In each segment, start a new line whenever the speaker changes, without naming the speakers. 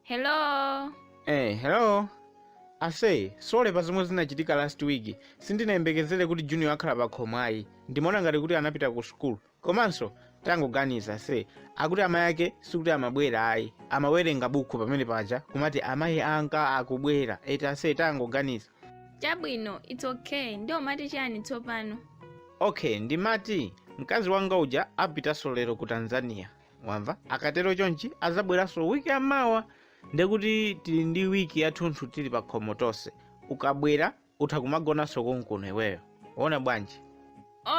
hello Eh, hello. Ase, sole pa zomwe zinachitika last week. Sindinayembekezere kuti Junior akhala pa khomo ayi. Ndimaona ngati kuti anapita ku school. komanso tangoganiza ase akuti amayi ake sikuti amabwera ayi amawerenga bukhu pamene paja umati amayi anga akubwera eti ase tangoganiza chabwino its okay ndiye umati chani tsopano okay ndimati mkazi wanga uja apitanso lero ku tanzania wamva akatero chonchi azabweranso wiki yamawa ndekuti tili ndi wiki yathunthu tili pa khomo tonse ukabwera utha kumagonanso konkuno iweyo ukuona bwanji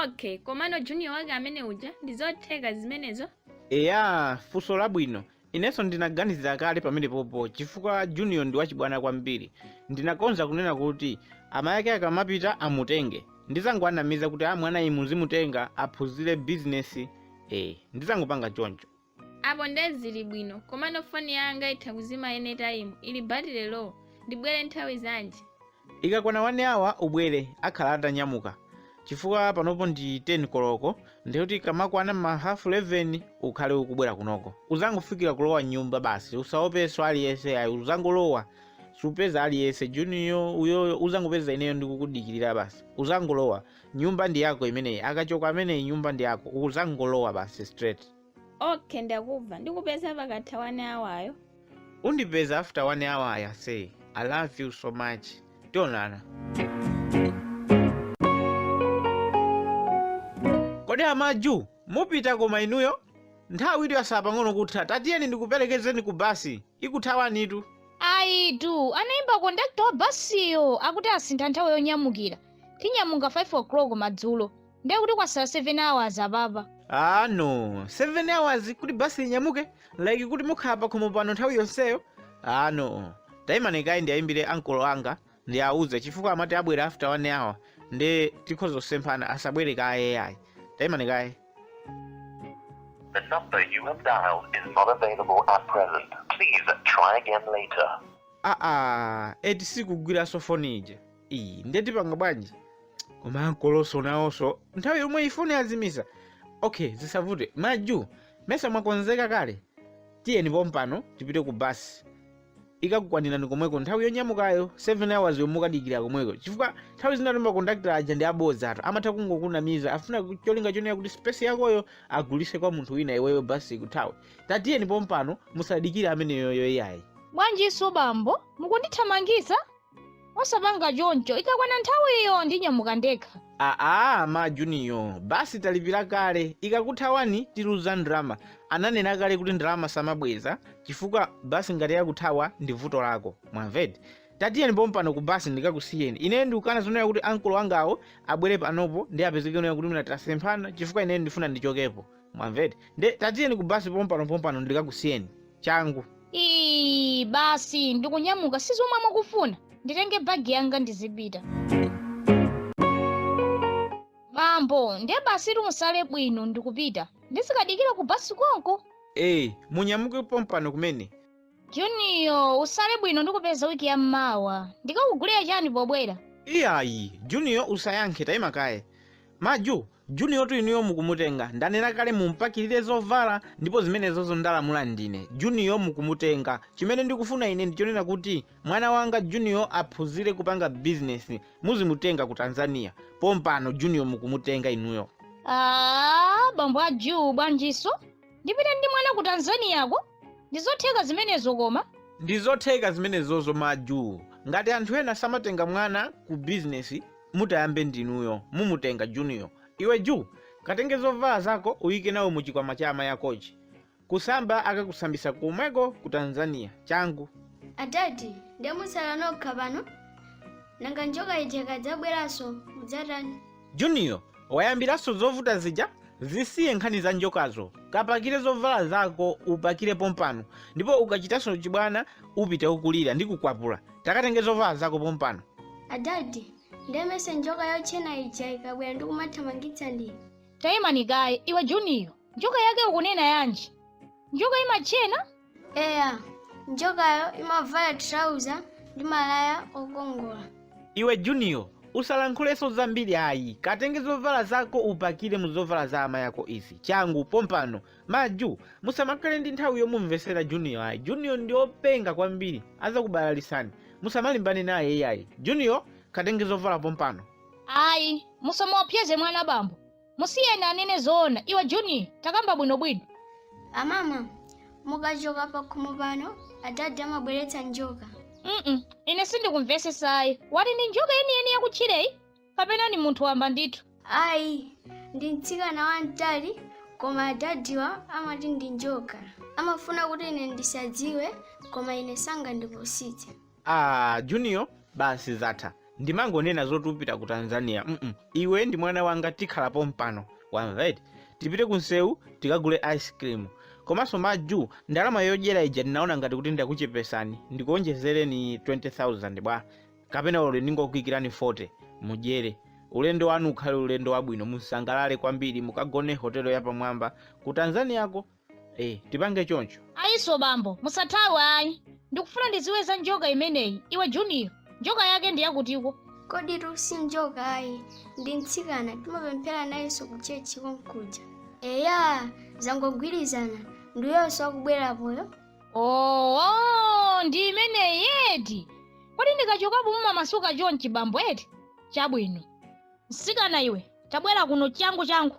okay komano junior wake amene uja ndi zotheka zimenezo eya funso labwino inenso ndinaganizira kale pamenepopo chifukwa junior ndi wachibwana kwambiri ndinakonza kunena kuti amayi ake akamapita amutenge ndizangowanamiza kuti a mwanayi muzimutenga aphunzire bizinesi e ndizangopanga choncho Apo nde zili bwino komano foni yanga itha kuzima any time ili battery low ndibwele nthawi zanji? Ikakwana 1 hour ubwele akhala atanyamuka chifukwa panopo ndi 10 koloko ndekuti ikamakwana mma half 11 ukhale ukubwela kunoko uzangofikila kulowa mnyumba basi usaopeso aliyese ayi uzangolowa supeza aliyese junior uyoyo uzangopeza ineyo ndikukudikilila basi uzangolowa nyumba ndiyako imeneyi akachoka ameneyi nyumba ndiyako uzangolowa basi straight. okay ndakubva ndikupeza pakatha one hour yo undipeza after one hour eya ase i love you so much tionana kodi amaju mupita koma inuyo nthawi ijatu yasala pang'ono kutha tatiyeni ndikuperekezeni ku basi ikuthawanitu. Ayitu, anaimba conductor wa basiyo akuti asintha nthawi yonyamukira. Tinyamuka 5 o'clock madzulo. Ndiye kuti kwasala 7 hours apapa. Aaa no, 7 hours kuti bus linyamuke? Like kuti mukhala pakhomo pano nthawi yonseyo? Aaa no. Taimani kaye ndiaimbire ankolo anga ndiauze chifukwa amati abwere after one hour nde tikhoza kusemphana asabwere kaye ayi tayimani kaye The number you have dialed is not available at present. Please try again later. aa eti sikugwiranso foni ija iyi ndetipanga bwanji koma ankolonso nawonso nthawi yomweyi foni azimisa okay zisavute maju mesa mwakonzeka kale tiyeni pompano tipite ku basi ikakukwanirani komweko nthawi yonyamukayo 7 hours yomwe mukadikira komweko chifukwa nthawi zina timakondakitala aja ndi abodzatu amatha kungokunamiza afuna ku- cholinga chonena kuti space yakoyo agulise kwa munthu wina iweyo basi ikuthawe tatiyeni pompano musadikire ameneyoyo iyayi bwanjinso bambo mukundithamangitsa osapanga choncho ikakwana nthawiyo ndinyamuka ndekha aa ma junior basi talipira kale ikakuthawani tiluza ndalama ananena kale kuti ndalama samabweza chifukwa basi ngati yakuthawa ndi vuto lako mwamvatu tatiyeni pompano ku basi ndikakusiyeni ineyo ndikukana zonena kuti ankolo angawo abwere panopo ndi apezeke onena kuti mwina tasemphana chifukwa ineyo ndifuna ndichokepo mwamvatu nde tatiyeni ku basi pompano pompano ndikakusiyeni changu ii basi ndikunyamuka si zomwe mukufuna nditenge bagi yanga ndizipita bambo ndiye basi timusale bwino ndikupita ndizikadikira ku basi konko ee munyamuke pompano kumene juniyo usale bwino ndikupeza wiki ya mmawa ndikakugulire chani pobwera iyayi juniyo usayankhe tayima kaye maju Juniyotu inuyo mukumutenga. Ndanena kale mumupakirire zovala ndipo zimenezozo ndalamula ndine. Juniyo mukumutenga. Chimene ndikufuna ine ndi chonena kuti mwana wanga Juniyo aphunzire kupanga bizinesi. Muzimutenga ku Tanzania. Pompano Juniyo mukumutenga inuyo. Aaa, bambo a Juu bwanjinso? Ndipite ndi mwana ku Tanzaniyako? Ndi zotheka zimenezo koma? Ndi zotheka zimenezozo ma Juu. Ngati anthu ena samatenga mwana ku bizinesi, mutayambe ndinuyo mumutenga juniyo iwe ju katenge zovala zako uyike nawo muchikwama cha amayi akochi kusamba akakusambisa komweko ku tanzania changu adadi nde musala nokha pano nanga njoka ija ikadzabweranso mudzatani juniyo wayambiranso zovuta zija zisiye nkhani za njokazo kapakire zovala zako upakire pompano ndipo ukachitanso chibwana upita ukulira ndi kukwapula takatenge zovala zako pompano adadi nde mmesa njoka yotchena ija ikabwera ndikumathamangitsa ndine tayimani kaye iwe juniyo njoka yake ukunena yanji njoka imatchena eya njokayo imavala trauza ndi malaya okongola iwe juniyo usalankhulenso zambiri ayi katenge zovala zako upakire mu zovala za amayi ako izi changu pompano Ma Ju, musamakhale ndi nthawi yomumvesera Junior ayi. Junior ndi openga kwambiri, azakubalalisani. Musamalimbane naye iyayi. Junior, katenge zovala pompano. Ayi, musamuopsyeze mwana bambo. Musiyeni anene zoona. Iwe Junior, takamba bwino bwino. Amama, mukachoka pakhomo pano, adadi amabweretsa njoka. Mm-mm, ine sindikumvesesa ayi. Wati ndi njoka yeniyeni yakutchireyi? kapena ni munthu wamba ndithu ayi ndi mtsikana wamtali koma adadiwa amati ndi njoka amafuna kuti ine ndisadziwe koma ine sangandipusitse ah junior basi zatha ndimangonena zoti upita ku tanzania mm iwe ndi mwana wanga tikhala pompano wamva eti tipite ku nsewu tikagule ice cream komanso majusi ndalama yodyera ija ndinaona ngati kuti ndakuchepesani ndikuonjezereni 20000 bwa kapena olo ndingokuikirani 40 mudyere ulendo wanu ukhale ulendo wabwino musangalale kwambiri mukagone hotelo yapamwamba ku tanzaniako eh, tipange choncho ayi nso bambo musathawe ayi ndikufuna ndidziwe za njoka imeneyi iwe juniyo njoka yake ndi yakutiko kodi lusi njoka ayi ndi mtsikana timapemphera nayenso ku chechi konkuja eya zangogwirizana ndi uyonso akubwera apoyo oo ndi imeneyi eti kodi ndikachokapo mumamasuka chonchi bambo eti chabwino msikana iwe tabwera kuno changu changu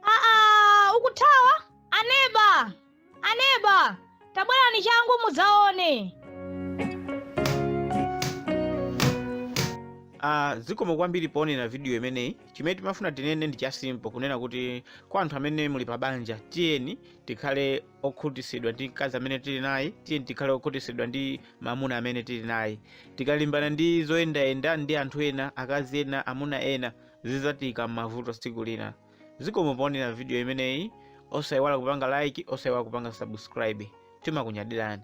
aa ukuthawa aneba aneba tabwerani changu mudzaone Uh, zikomo kwambiri poonera vidiyo imeneyi chimene timafuna tinene ndi chasimpo kunena kuti kwa anthu amene muli pa banja tiyeni tikhale okhutisidwa ndi mkazi amene tili naye tiyeni tikhale okhutisidwa ndi mamuna amene tili naye tikalimbana ndi zoyendayenda ndi anthu ena akazi ena amuna ena zidzatiika m'mavuto tsiku lina zikomo poonera video imeneyi osayiwala kupanga like osayiwala kupanga subscribe timakunyadirani